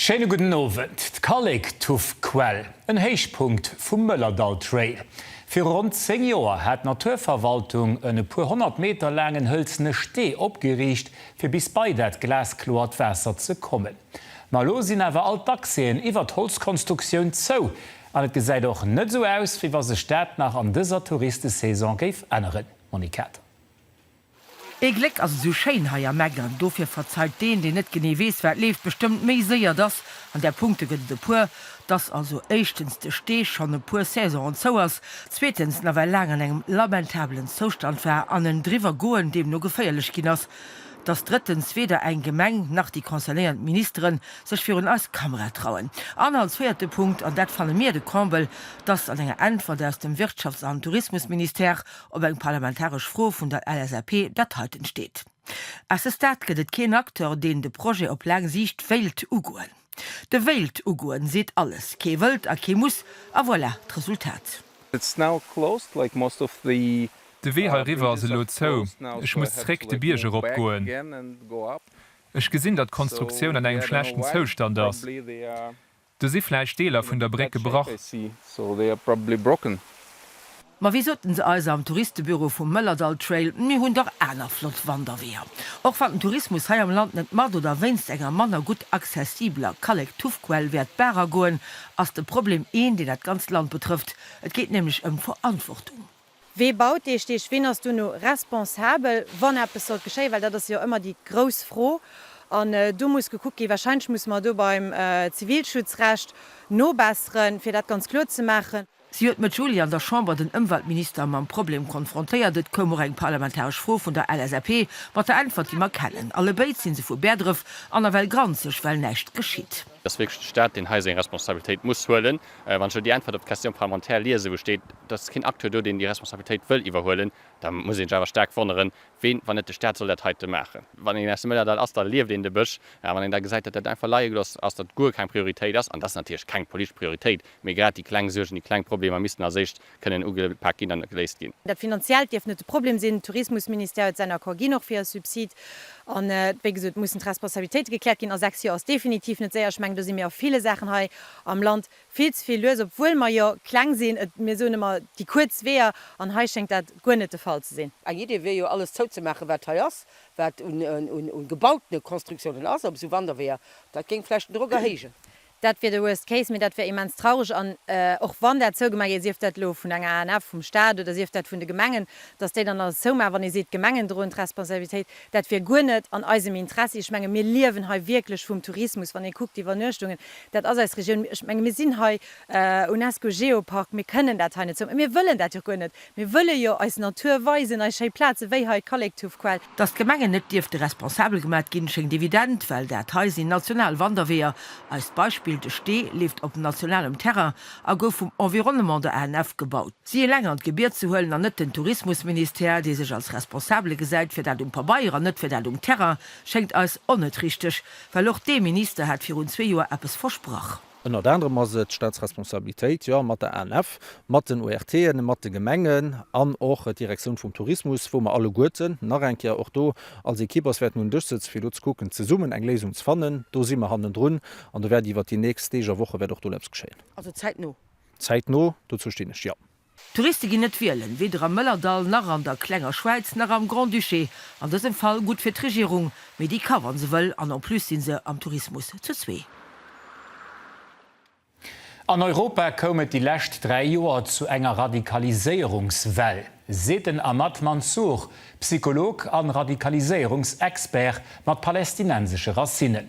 Schéine gudden Owend. D'Kallek Tuff Quell, en Héichpunkt vum Mëllerdall Trail. Viru ronn 10 Joer hat d'Naturverwaltung en e puer honnert Meter laangen hëlzene Stee opgeriicht, fir bis bei dat glaskloert Waasser ze kommen. Ma elo sinn awer all d'Accèsen iwwer d'Holzkonstruktioun zou an et gesäit och net esou aus, wéi wa sech dat nach an dëser Touristesaison géif änneren, Monique Kater. Ee Gléck ass esou schéin hei am Eck an dofir verzeiht deen, deen net genee weess, wat leeft bestëmmt méi séier, dass, an där Punkte gëtt et e puer, dass also éischtens de Stee schonn e puer Saisonen zou ass, zweetens nawell laang an engem lamentabelen Zoustand war an en driwwer goen deemno geféierlech ginn ass, dass drëttens weder eng Gemeng nach déi concernéiert Ministere sech virun eis Kamera trauen an als véierte Punkt, an dat fanne mir de Comble, dass an enger Äntwert aus dem Wirtschafts an Tourismusministère op eng parlamentaresch Fro vun der LSAP dat heiten steet. À ce stade gëtt et keen Acteur, deen de Projet op laang Siicht wéilt ugoen. De Wéilt ugoen seet alles, kee wëllt a kee muss, a voilà d'Resultat. It's now closed like most of the. De Wee hei riwwer ass elo zou, ech muss zréck de Bierg erop goen. Ech gesinn dat d'Konstruktioun an engem schlechten Zoustand ass, do si vläicht Deeler vun der Bréck gebrach. Ma wéi soten se eis am Touristebüro vum Mëllerdalltrail, mir hunn dach aner flott Wanderweeër. Och wann den Tourismus hei am Land net mat oder wéinst enger manner gutt accessibeler Kallektuffquell wäert d'Baach agoen, ass de Problem een, deen dat ganzt Land betrëfft. Et geet nämlech ëm Verantwortung. Wee baut dee Steg? Ween ass duerno responsabel, wann eppes sollt geschéien? Well dat ass jo ëmmer déi grouss Fro. An do muss gekuckt ginn. Wahrscheinlech musse mer do beim Zivilschutzrecht nobesseren, fir dat ganz kloer ze maachen. Si huet Mëtt Juli an der Chamber den Ëmweltminister mam Problem konfrontéiert. Et koum och eng parlamentaresch Fro vun der LSAP mat der Äntwert, déi mer kennen. Allebéid si se vu Bäerdref an nawell granzeg, well näischt geschitt. Et ass wierklech de Stat, deen hei seng Responsabilitéit muss huelen. Wann ech elo déi Äntwert op d'Question parlementaire liesen, wou steet, et ass keen Acteur do, deen déi Responsabilitéit wëll iwwerhuelen, da muss ee sech awer staark wonneren, ween, wann net de Stat, soll dat heite maachen. Wann een aus dem Mëllerdall ass, da lieft een de Bësch. A wann een da gesäit, datt dat einfach leie gelooss ass, datt et guer keng Prioritéit ass, an et ass natierlech keng politesch Prioritéit, Mee grad déi kleng Suergen, déi kleng Problemer missten als éischt kënnen ugepaakt ginn an geléist ginn. Dat Finanziellt dierft net de Problem sinn. De Tourismusministère huet säin Accord ginn, och fir e Subsid. An wéi gesot, et mussen d'Responsabilitéite gekläert ginn. A sechs Joer ass definitiv net séier. Ech mengen, do si mir a ville Saachen hei am Land vill ze vill lues, obwuel mer jo kleng sinn. Mir soen ëmmer déi kuerz Weeër, an hei schéngt dat guer net de Fall ze sinn. Eng Idee wier jo, alles zouzemaachen, wat hei ass, wat un gebautene Konstruktiounen ass op esou Wanderweeër. Dat géing vläicht den Drock erhéijen. Dat wier de Worst Case, mee dat wier immens traureg. An och wann dat zougemaach gétt, sief dat elo vun der ANF, vum Staat oder sief dat vun de Gemengen, datt déi dann alles zoumaachen, wann ee seet, d'Gemengen droen d'Responsabilitéit, dat wier guer net an eisem Interessi. Ech menge mir liewen hei wierklech vum Tourismus, wann ee kuckt d'Iwwernuechtungen, dat ass eis Regioun. Ech menge mir sinn hei UNESCO-Geopark, mir kënnen dat hei net zoumaachen, mir wëllen dat jo och guer net, Mir wëlle jo eis Natur weisen, eis schéi Plaze wéi hei d'Kallektuffquell. Datt d'Gemengen net dierfte responsabel gemat ginn, schéngt evident, well dat hei sinn national Wanderweeër. Eist Beispill, de Stee leeft op nationalem Terrain a gouf vum Environnement, der ANF, gebaut. Si eleng an d'Gebiet ze huelen an net den Tourismusministère, dee sech als Responsabele gesäit fir dat um Pabeier an net fir dat um Terrain, schéngt eis onnet richteg, well och dee Minister hat virun zwee Joer eppes versprach. Ënnert anerem ass et d'Staatsresponsabilitéit, jo, mat der ANF, mat den ORTen, mat de Gemengen an och d'Direktioun vum Tourismus, wou mer alleguerten nach eng Kéier och do als Ekipp ass wäerten un den Dësch sëtzen, fir do ze kucken, zesummen eng Léisung ze fannen. Do si mer hannendrun an do wäert iwwert déi nächst Deeg a Woche wäert och do elo eppes geschéien. Also zäitno? Zäitno, dozou stinn ech, jo. D'Touriste ginn net wielen, weder am Mëllerdall nach an der klenger Schwäiz nach am Grand-Duché. An dësem Fall gutt fir d'Regierung, mee déi ka wa se wëll, an en plus si se am Tourismus zu zwee. An Europa koum et déi lescht dräi Joer zu enger Radikaliséierungswell, seet den Ahmad Mansour, Psycholog an Radikaliséierungsexpert mat palästinensesche Racinnen.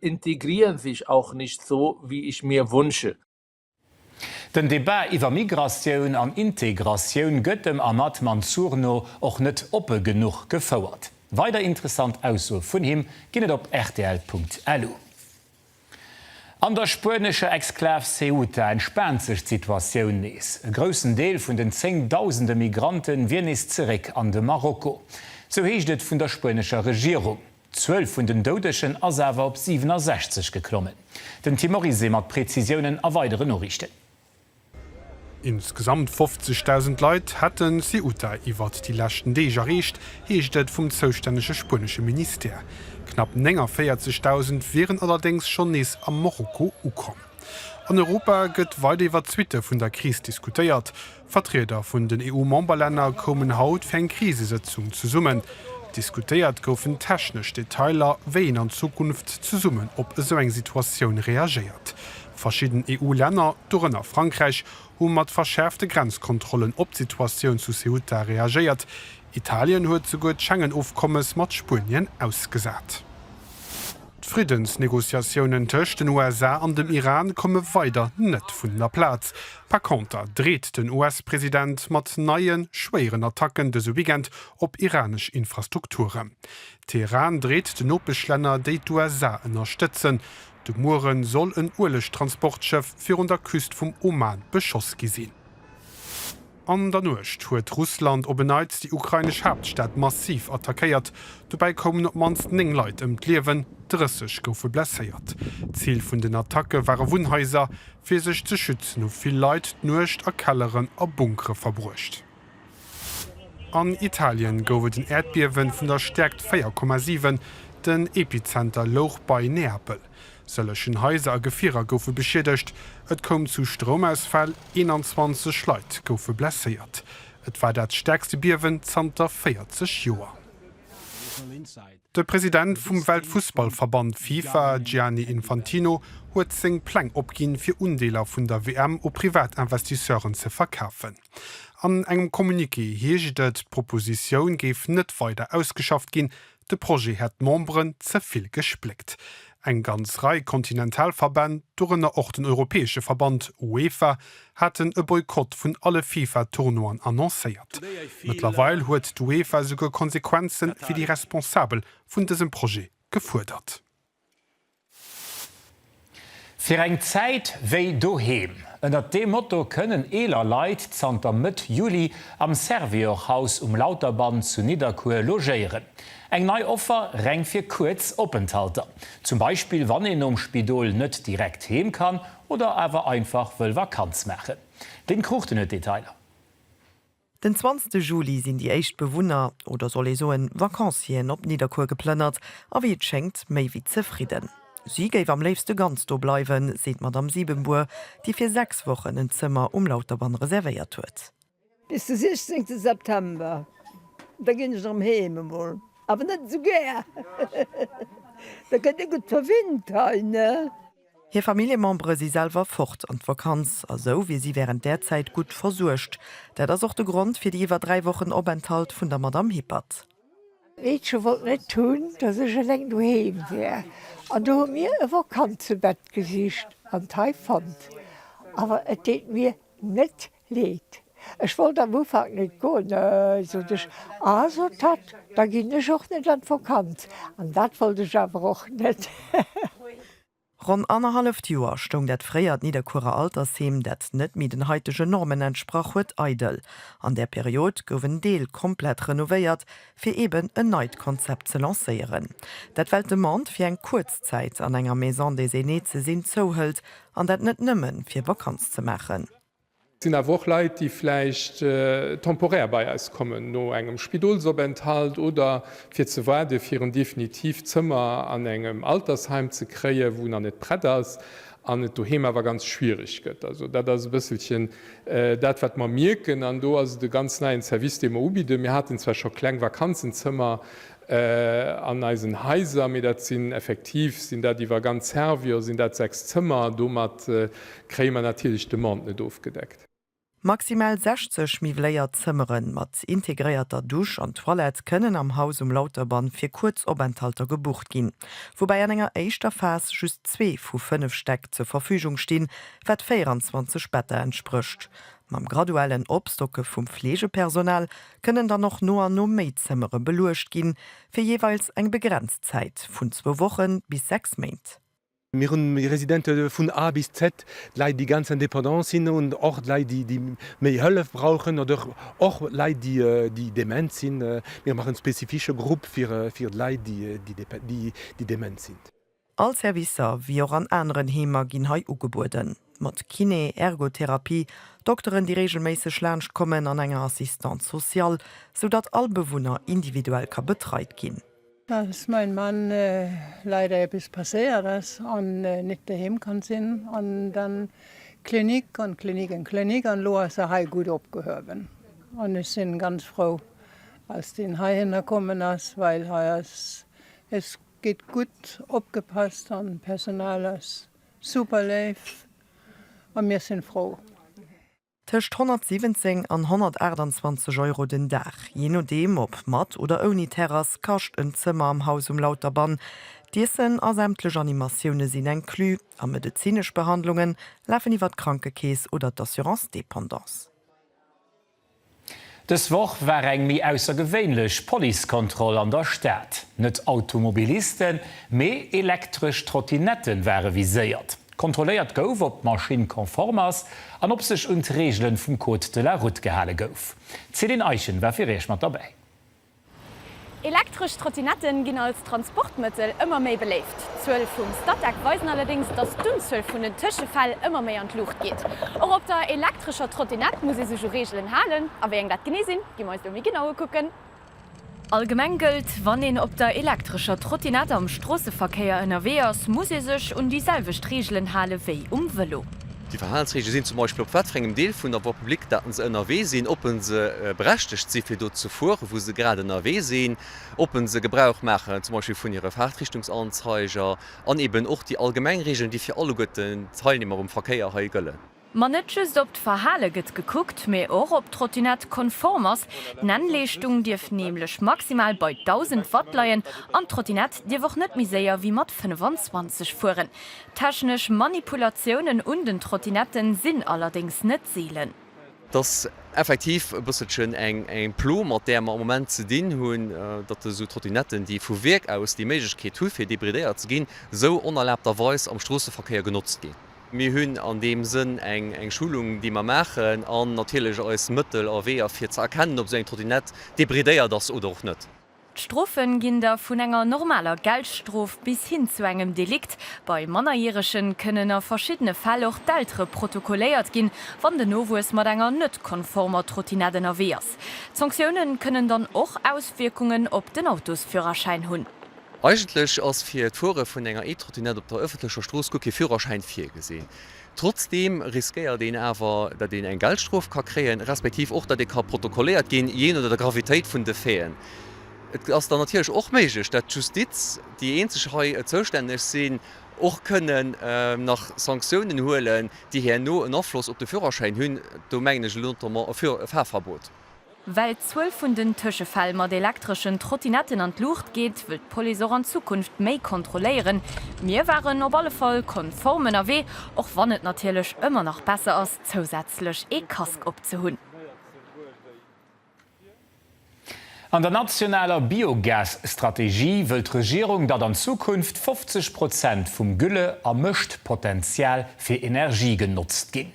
integrieren sich auch nicht so wie ich mir wünsche. Den Debat iwwer Migratioun an Integratioun gëtt dem Ahmad Mansour no och net oppe genuch gefouert. Weider interessant Aussoe vun him ginn et op rtl.lu. An der spuenescher Exklav Ceuta entspaant sech d'Situatioun nees. E groussen Deel vun den zéng Dausende Migrante wier nees zeréck an de Marokko. Sou heescht et vun der spuenescher Regierung. D'Zuel vun den Doudegen ass awer op 67 geklommen. Den Tim Oryse mat Prezisiounen a weidere Noriichten. Insgesamt 50.000 Leit hätte Ceuta iwwert déi leschten Deeg erreecht, heescht et vum zoustännege spuenesche Ministère. Knapp 49.000 wieren allerdéngs schonn nees a Morocco ukomm. An Europa gëtt weider iwwer d'Suitte vun der Kris diskutéiert. Vertrieder vun den EU-Memberlänner koumen haut fir eng Krisesëtzung zesummen. Diskutéiert goufen technesch Detailer, wéi een an Zukunft zesummen op esou eng Situatioun reagéiert. Verschidden EU-Länner, dorënner Frankräich, hu mat verschäerfte Grenzkontrollen op d'Situatioun zu Ceuta reagéiert, Italien huet souguer d'Schengen-Ofkommes mat Spuenien ausgesat. D'Friddensnegociatiounen tëscht den USA an dem Iran komme weider net vun der Plaz. Par conter dreet den US-President mat neie schwéieren Attacken dëse Weekend op iranesch Infrastrukturen. Teheran dreet den Nopeschlänner, déi d'USA ënnerstëtzen. De Muere soll en Uelegtransportschëff virun der Küst vum Oman beschoss gi sinn. An der Nuecht huet Russland op en Neits déi ukrainesch Haaptstad massiv attackéiert. Dobäi koumen op d'mannst 9 Leit ëm d'Liewen, 30 goufe blesséiert. Zil vun den Attacke ware Wunnhaiser. Fir sech ze schützen hu vill Leit d'Nuecht a Kelleren a Bunkere verbruecht. An Italien gouf et en Äerdbiewen vun der Stäerkt 4,7. Den Epizenter louch bei Neapel. Sëllegen Haiser a Gefierer goufe beschiedegt. Et koum zu Stroumausfäll, 21 Leit goufe blesséiert. Et war dat stäerkste Biewen zanter 40 Joer. De President vum Weltfussballverband Fifa, Gianni Infantino, huet seng Pläng opginn, fir Undeeler vun der WM u Privatinvestisseuren ze verkafen. An engem Communiqué heescht et, d'Propositioun géif net weider ausgeschafft ginn, De Projet hätt d'Memberen ze vill gespléckt. Eng ganz Rei kontinental Verbänn, dorënner och den europäesche Verband UEFA, haten e Boykott vun alle FIFA-Tournoien annoncéiert. Mëttlerweil huet d'UEFA esouguer Konsequenze fir déi Responsabel vun dësem Projet gefuerdert. Fir eng Zäit wéi doheem. Ënnert deem Motto kënnen eeler Leit zanter Mëtt Juli am Servior Haus um Lauterband zu Nidderkuer logéieren. Eng nei Offer reng fir kuerz Openthalter, zum Beispill wann een nom Spidol net direkt heem kann oder awer einfach wëll Vakanz maachen. Den Cruchten huet d'Detailer. Den zwanzte Juli sinn déi éischt Bewunner, oder soll ee soen Vacancieren, op Nidderkuer geplënnert a wéi et schéngt méi wéi zefridden. Si géif am léifste ganz do bleiwen, seet d'Madamm Siebenbour, déi fir sechs Wochen en Zëmmer um Lauterbann reservéiert huet. Bis de 16 September, da ginn ech erëm heem. Emol awer net esou gär, da gëtt ee gutt verwinnt hei, ne? Hir Familljemembere si selwer fort an d'Vakanz a sou wier si wärend där Zäit gutt versuergt. Dat ass och de Grond fir déi iwwer dräi Wochen Openthalt vun der Madamm Hippert. D'Meedche wollt net hunn, datt ech eleng doheem wär an do hu mir e Vakantze-Bett gesicht an d'hei fonnt. Awer et deet mir net Leed. Ech wollt am Ufank net goen, sot ech, a sot d'Hatt, da ginn ech och net an d'Vokanz, an dat wollt ech awer och net. Ronn annerhalleft Joer stoung dat fréiert Nidderkuerer Altersheem, dat net méi den haitegen Normen entsprach huet, eidel. An där Period gouf en Deel komplett renovéiert, fir eben en neit Konzept ze lancéieren. Dat well d'Demande fir eng kuerz Zäit an enger Maison des Aînés ze sinn zouhëlt, an dat net nëmmen, fir Vakanz ze maachen. Et sinn awer och Leit, déi vläicht temporär bei eis kommen, no engem Spidolsopenthalt oder fir ze waarden, fir en definitiivt Zëmmer an engem Altersheim ze kréien, wou nach net prett ass an et doheem awer ganz schwiereg gëtt. Also dat ass e bësselchen dat, wat mer mierken. An do ass et e ganz neien Service, dee mer ubidden. Mir haten zwar scho kleng Vakanzenzëmmer, An eisen Haiser, mee dat sinn effektiv, sinn dat iwwer ganz Servior, sinn dat 6 Zëmmer, domat kréie mer natierlech d'Demande net ofgedeckt. Maximal 60 miwwléiert Zëmmere mat integréierter Dusch an Toilette kënnen am Haus um Lauterbann fir kuerz Openthalter gebucht ginn, woubäi an enger éischter Phas just zwee vu fënnef Stäck zur Verfügung stinn, wat 24 Better entsprécht. Mam graduellen Opstocke vum Fleegepersonal kënnen dann och no an no méi Zëmmere beluecht ginn, fir jeeweils eng begrenzt Zäit vun zwou Wochen bis sechs Méint. Mir hunn déi Residente vun A bis Z, d'Leit, déi ganz indépendant sinn, an och d'Leit, déi méi Hëllef brauchen, oder och Leit, déi dement sinn. Mir maachen e spezifische Grupp fir d'Leit, déi dement sinn. All Servicer, wéi och an aneren Heemer, ginn hei ugebueden, mat Kiné, Ergotherapie, Dokteren, déi reegelméisseg laanscht kommen, an enger Assistante sociale, sou datt all Bewunner individuell ka betreit ginn. Als mäin Mann leider eppes passéiert ass an nit doheem kann sinn an dann Klinik an Klinik an Klinik an lo ass e hei gutt opgehuewen an ech sinn ganz frou als deen heihinner kommen ass well hei ass es Gett gudd opgepasst an d'Personal ass super léif an mir sin frou. Tëscht 117 an 128 Euro den Dag, jee nodeem op mat oder ouni Terrass, kascht en Zëmmer am Haus um Lauterband. D'Iessen a sämtlech Animatioune sinn inclus a medezinesch Behandlunge lafen iwwer d'Krankekeess oder d'Assurance Dépendance. Dës Woch war eng méi aussergewéinlech Policekontroll an der Stad. Net Automobilisten, mee elektresch Trottinette ware viséiert. Kontrolléiert gouf, ob d'Maschinn konform ass an ob sech un d'Reegele vum Code de la Route gehale gouf. D'Céline Eischen war fir Iech mat derbäi. Elektresch Trottinette ginn als Transportmëttel ëmmer méi beléift. D'Zuel vum Statec weisen allerdéngs, datt d'Unzuel vun den Tëschefäll ëmmer méi an d'Luucht geet. Och op der elektrescher Trottinette muss ee sech u Reegelen halen. A wéi eng dat genee sinn, gi mer eis elo méi genau ukucken. Allgemeng gëllt, Wann een op der elektrescher Trottinette am Stroosseverkéier ënnerwee ass, muss ee sech un déi selwecht Reegelen hale wéi um Vëlo. Déi Verhalensreegele sinn zum Beispill, op wat fir engem Deel vun der Voie publique datt se ënnerwee sinn, ob se berechtegt si fir do ze fuere wou se grad ënnerwee sinn, ob se Gebrauch maachen zum Beispill vun hire Fahrtrichtungsanzeiger an eben och déi allgemeng Reegelen, déi fir alleguerten d'Teilnehmer um Verkéier hei gëllen. Ma net just op d'Verhale gëtt gekuckt, mee och ob d'Trottinett konform ass. D'Nennleeschtung dierf nämlech maximal bei 1.000 Watt leien an d'Trottinett dierf och net méi séier wéi mat 25 fueren. Technesch Manipulatiounen un den Trottinetten sinn allerdéngs net seelen. Et ass effektiv e bësselchen eng Plo, mat där mer am Moment ze dinn hunn, datt esou Trottinetten, déi vu Wierk aus déi Méiglechkeet hu fir debridéiert ze ginn, esou onerlaabterweis am Stroosseverkéier genotzt ginn. Mir hunn an deem Sënn eng Schulung, déi mer maachen, an natierlech eis Mëttel a Weeër fir ze erkennen, ob esou eng Trottinett debridéiert ass oder och net. D'Strofen ginn da vun enger normaler Geldstrof bis hin zu engem Delikt. Bei Mannerjähregen kënnen a verschiddene Fäll och d'Eltere protokolléiert ginn, wann den Nowuess mat enger net konformer Trottinett ënnerwee ass. D'Sanktiounen kënnen dann och Auswierkungen op den Autosführerschäin hunn. Eigentlech ass fir d'Fuere vun enger E-Trottinett op der ëffentlecher Strooss guer kee Führerschäin virgesinn. Trotzdeem riskéiert een awer, datt een eng Geldstrof ka kréien, respektiv och, datt ee ka protokolléiert ginn, jee no der Gravitéit vun de Faiten. Et ass dann natierlech och méiglech, datt d'Justiz, déi eenzeg hei zoustänneg sinn, och kënnen nach Sanktiounen huelen, déi herno en Afloss op de Führerschäin hunn. Do mengen ech notamment e Fahrverbot. Well d'Zuel vun den Tëschefäll mat elektreschen Trottinetten an d'Luucht geet, wëll d'Police och an Zukunft méi kontrolléieren. Mir waren op alle Fall konform ënnerwee, och wann et natierlech ëmmer nach besser ass, zousätzlech ee Casque opzehunn. An der nationaler Biogas-Strategie wëll d'Regierung, datt an Zukunft 50 Prozent vum Gülle a Mëschtpotential fir Energie genotzt ginn.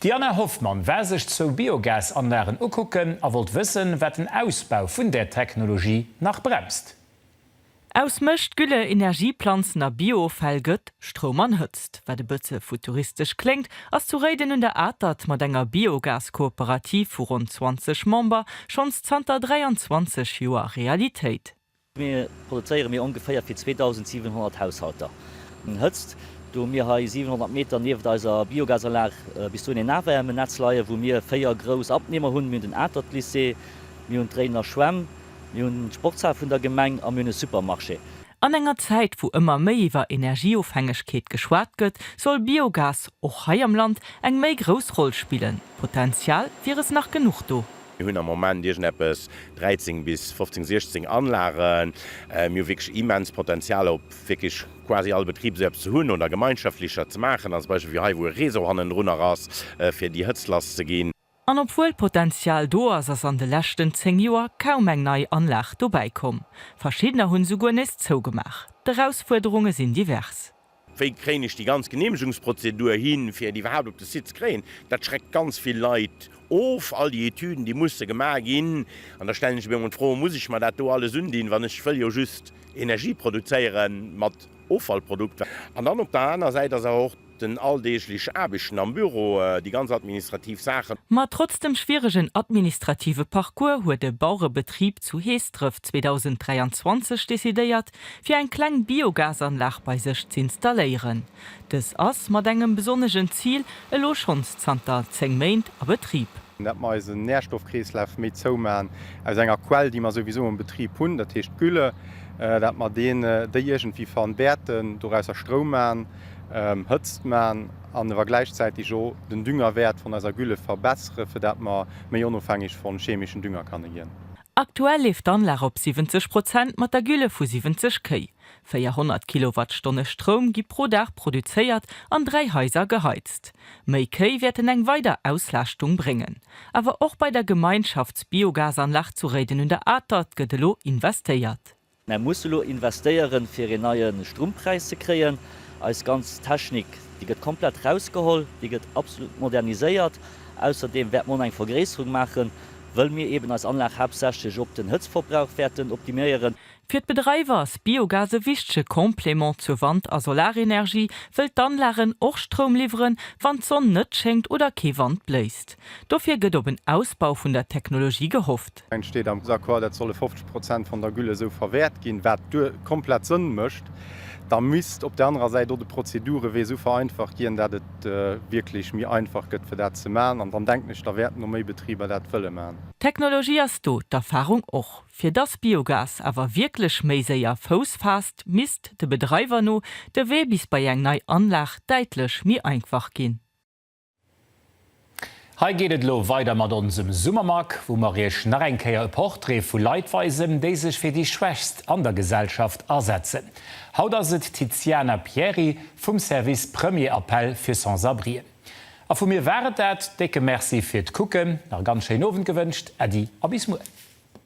D'Diana Hoffmann war sech zwou Biogasanlagen ukucken a wollt wëssen, wat den Ausbau vun där Technologie nach bremst. Aus Mëscht, Gülle, Energieplanzen a Bio-Offäll gëtt Stroum an Hëtzt. Wat e bësse futuristesch kléngt, ass zu Réiden un der Atert mat enger Biogas-Kooperativ vu ronn 20 Member schonns zanter 23 Joer Realitéit. Mir produzéiere mir ongeféier fir 2.700 Haushalter Hëtzt. Do hu mir hei 700 Meter nieft eiser Biogasanlag bis dohin een Nahwärmenetz leien, wou mir véier grouss Abnehmer hunn. Mir hunn den Atert-Lycée, mir hunn d'Réidener Schwämm, mir hunn d'Sportshal vun der Gemeng a mir hunn e Supermarché. An enger Zäit, wou ëmmer méi iwwer Energieofhängegkeet geschwat gëtt, soll Biogas och hei am Land eng méi grouss Roll spillen. Potenzial wier es nach genuch do. Mir hunn am Moment iergendeppes 13 bis 15, 16 Anlagen. Mir hu wierklech immens Potenzial op wierklech quasi all Betrib esou eppes ze hunn oder gemeinschaftlecher ze maachen, als Beispill wéi hei, wou e Réseau hannendrun nach ass, fir déi Hëtzt lass ze ginn. An obwuel Potenzial do ass, ass an de leschten 10 Joer kaum eng nei Anlag dobäi komm. Verschiddener hunn esouguer nees zougemaach. D'Erausfuerderunge sinn divers. Wéi kréien ech déi ganz Geneemegungsprozedur hin, fir et iwwerhaapt op de Site ze kréien? Dat schreckt ganz vill Leit of, all déi Etüden, déi musse gemaach ginn. An da stellen ech mir emol d'Fro, Muss ech mer dat do alles undinn, wann ech wëll jo just Energie produzéiere mat Offallprodukter? An dann op der aner Säit ass awer och den alldeeglech Aarbechten am Büro, déi ganz administrativ Saachen. Ma trotz dem schwieregen administrative Parcours huet e Bauerebetrib zu Heesdref 2023 decidéiert, fir eng kleng Biogasanlag bei sech z'installéieren. Dës ass mat engem besonnegen Zil elo schonns zanter 10 Méint a Betrib. Dat mer eisen Nährstoffkreeslaf méi zou maachen aus enger Quell, déi mer souwisou am Betrib hunn, dat heescht d'Gülle, dat mer deen, déi iergendwéi fan wäerten, dorausser Stroum maachen, Hëtzt maachen an ewer gläichzäiteg och den Düngerwäert von eiser Gülle verbessere fir dat mer méi onofhängeg von chemeschen Dünger kanne ginn. Aktuell leeft d'Anlag op 70 Prozent mat der Gülle vu 70 Kéi. 400 Kilowattstonne Stroum gi pro Dag produzéiert an dräi Haiser geheizt. Méi Kéi wäerten eng weider Auslaaschtung bréngen. Awer och bei der Gemeinschaftsbiogasanlag zu Réiden un der Atert gëtt elo investéiert. Mär musse elo investéieren, fir een neie Strummpräis ze kréien. Eis ganz Technik, déi gëtt komplett rausgeholl, déi gëtt absolut moderniséiert. Ausserdeem wäerte mer och nach eng Vergréisserung maachen, wëll mir eeben eis Anlag haaptsächlech op den Hëtztverbrauch wäerten optimiéieren. Fir d'Bedreiwer ass Biogas e wichtege Complément zur Wand a Solarenergie, wëll d'Anlagen och Stroum liwweren, wann d'Sonn net schéngt oder kee Wand bléist. Dofir gëtt op en Ausbau vun der Technologie gehofft. Et steet am Accord, et solle 50 Prozent vun der Gülle esou verwäert ginn, wat komplett Sënn mécht. Da misst op där anerer Säit och de Prozedurewee esou vereinfacht ginn, dat et wierklech méi einfach gëtt, fir dat ze maachen. An dann denken ech, da wäerten och méi Betriber dat wëlle maachen. D'Technologie ass do, d'Erfahrung och. Fir dass Biogas awer wierklech méi séier Fouss faasst, misst, de Bedreiwer no, de Wee bis bei eng nei Anlag däitlech méi einfach ginn. Hei geet et elo weider mat onsem Summermag, wou mer iech nach eng Kéier e Portrait vu Leit weisen, déi sech fir déi Schwächst an der Gesellschaft asetzen. Haut ass et d'Tiziana Pieri vum Service Premier Appel für Sans-Abrien. A vu mir war et dat. Décke Merci fir d'Kucken, nach e ganz schéinen Owend gewënscht, Äddi a bis muer.